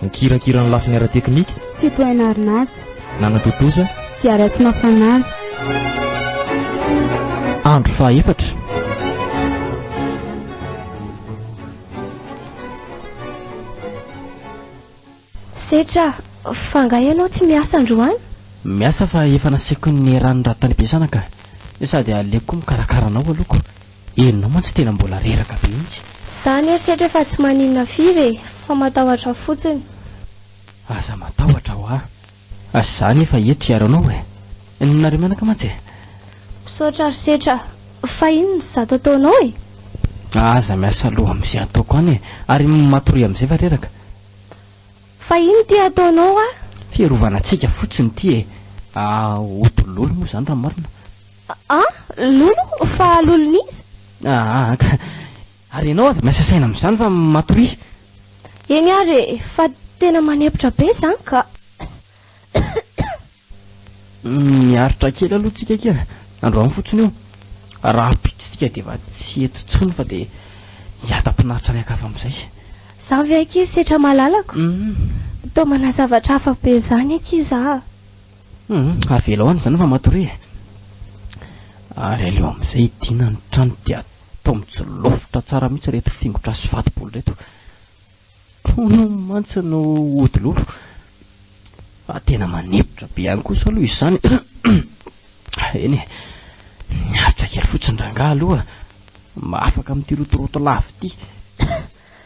Nikirakira ny lafiny ara-teknika. Tsitohaina Arinaja. Nanatontosa. Fiarasina Fanala. Andro fahaefatra. Setra, fa angaha ianao tsy miasa androany? Miasa fa efa nasiako ny rano raha tany am-piasana ka. Sady aleoko koa mikarakara anao aloha ko. Enona mantsy tena mbola reraka be mintsy. Za nieritreritra fa tsy maninona firy e, fa matahotra fotsiny. Aza matahotra hoa. As za nefa eto hiaro anao e. Ny nareo mianaka mantsy e. Misaotra ry setra. Fa inona no zato ataonao e? Aza miasa loha amzay ataoko any e. Ary matoria amzay fa reraka. Fa inona ity ataonao hoa? Fiarovana antsika fotsiny ity e. Ahh hotololo moa zany raha marina. A, Lolo? Fa lolon'iza? Aa, ka. Ary ianao aza miasa saina amin'izany fa matoria. Eny ary e, fa tena manempotra be izany ka. Miaritra kely aloha tsika akia. Androany fotsiny io. Rahampitso isika dia efa tsy eto intsony fa dia hiadam-pinaritra any an-kafa amin'izay. Izany ve akia ry setra malalako? Toa manazavatra hafa be izany akia izaho. Hum, avela hoany izany ramatoria e. Ary aleo amin'izay hidiana ny trano dia atao mijolofitra tsara mihitsy ireto fingotra sy fatibolo ireto. Hono mantsy no ody lolo. Fa tena manetitra be ihany kosa aloha izany. Eny e, niaritra kely fotsiny rangahy aloha mba afaka amin'ity rotoroto lava ity.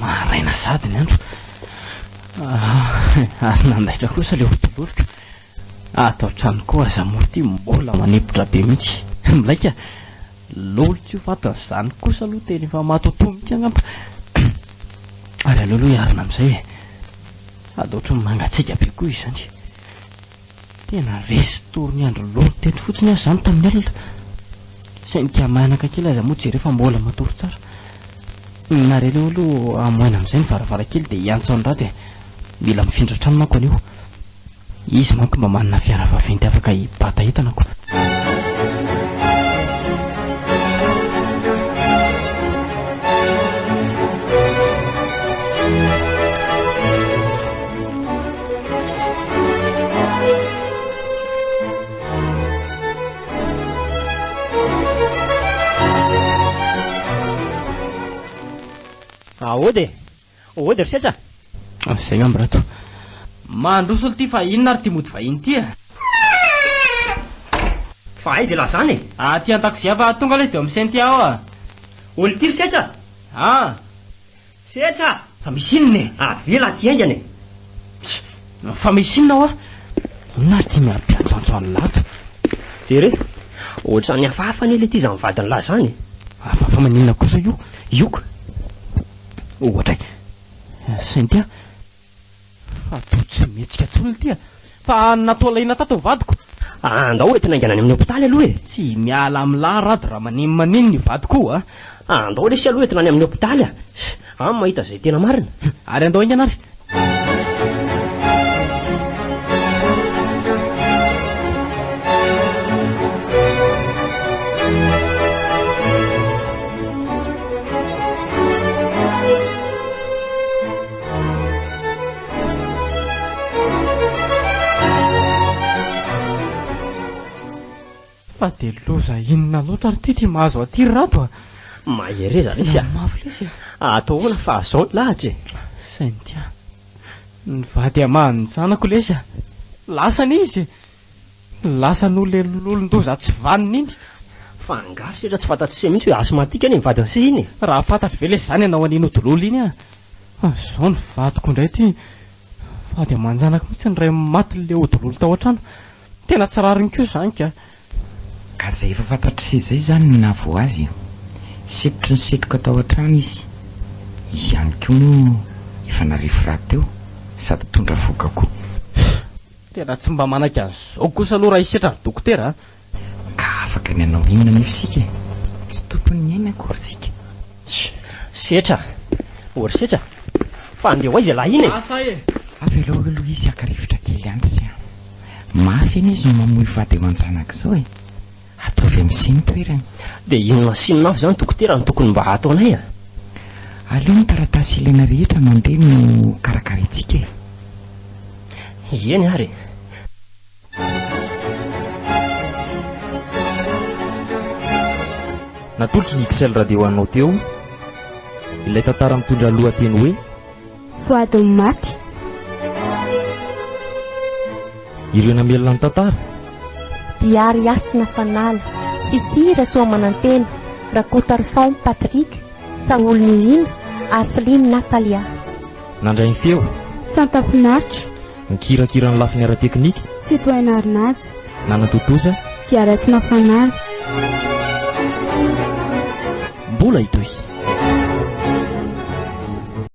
Maraina sady ny andro ary nandaitra kosa ilay hotoloriko. Ato an-trano koa aza moa ity mbola manepotra be mihitsy. Milay ka! Lolo tsy ho fatin'izany kosa aloha tena efa matotoa mihitsy angamba. Ary aleo aloha hiarina amin'izay e! Sady ohatran'ny mangatsiaka be koa izany. Tena resy tory ny andro lolo teto fotsiny aho izany tamin'ny alina. Saingy dia manaka kely aza moa jereo fa mbola matory tsara. Nare aleo aloha hamoahina amin'izay ny varavarankely dia hiantso an'i Rado e. Mila mifindra trano manko anio. Izy manko mba manana fiara vaventy afaka hibata entana ko. Aody e! Aody ry Setra! Izay ngamba rato. Mandroso olo ty fa inona ary ty mody vahiny ity a? Fa aiza elah zany e? Aty an-dakozia fa tonga ilay izy dia misento aho a. Olo ty ry Setra? Ah! Setra a! Fa misy inona e? Avela aty haingana e! Tsia! Fa misy inona hoa? Inona ary ity miha-mpiantsantso an'la ato? Jere e! Ohatrany hafahafa anie ilay ity izany vadin'la izany e! Hafahafa maninona kosa io? Io ka! Ohatra e! Cynthia! Fa toa tsy mihetsika intsony ity a! Fa natao alaina tato ny vadiko. Andao ho entina haingana any amin'ny hopitaly aloha e! Tsy miala amin'ny lahy Rado raha manin manin ny vadiko io a! Andao lesy aloha entina any amin'ny hopitaly a! An, mahita izay tena marina. Ary andao haingana ary. Fa dia loza inona loatra ary ity ity mahazo aty ry Rato a! Mahereza lesy a! Tena mafy lesy a! Atao ahoana fa azao ny lahatra e! Sainty a! Ny vady hamaha ny zanako lesy a! Lasana izy e! Lasa nolelololon-doza tsy vanona iny. Fa angaha ry sehatra tsy fantatr'i Sia mihitsy hoe asthmatique anie ny vadin'i Sia iny e! Raha fantatro ve lesy izany ianao an'i Nodololo iny an! Fa izao ny vadiko indray ity, vady aman-janako mihitsy ny iray maty leodololo tao an-trano. Tena tsy rariny koa izany ka! Ka izay efa fantatr'i Sia izay izany no nahavoa azy e! Setotry ny setroka tao an-trano izy. Izy ihany koa moa efa narefy rahateo sady tondra vohoka koa. Tena tsy mba manaiky an'izao kosa aloha raha isetra ry dokotera a! Ka afaka ny hanao inona anefa isika e? Tsy tompon'ny aina akory isika. Tch! Setra! Ory setra! Fa andeha ho aiza ilay iny e? Avelao aloha ilay izy haka rivotra kely andry sy a! Mafy anie izao mamoy vady aman-janaka izao e! Ataovy amzay ny toerany. Dia inona asinonao izany dokotera no tokony mba hataonay a? Aleo ny taratasy ilaina rehetra mandeha no karakaraintsika e. Eny ary e. Natolotry ny XL Radio anao teo ilay tantara mitondra lohateny hoe. Voadon'ny maty. Ireo namelona ny tantara. Diary Hasina Fanala. Sissi Rasoamanantena, Rakotaroson Patrick, Saholy Nirina, Arceline Natalia. Nandray ny feo. Tsanta Finaritra. Nikirakira ny lafiny ara-teknika. Tsitohaina Arinaja. Nanatontosa. Diary Hasina Fanala. Mbola hitohy.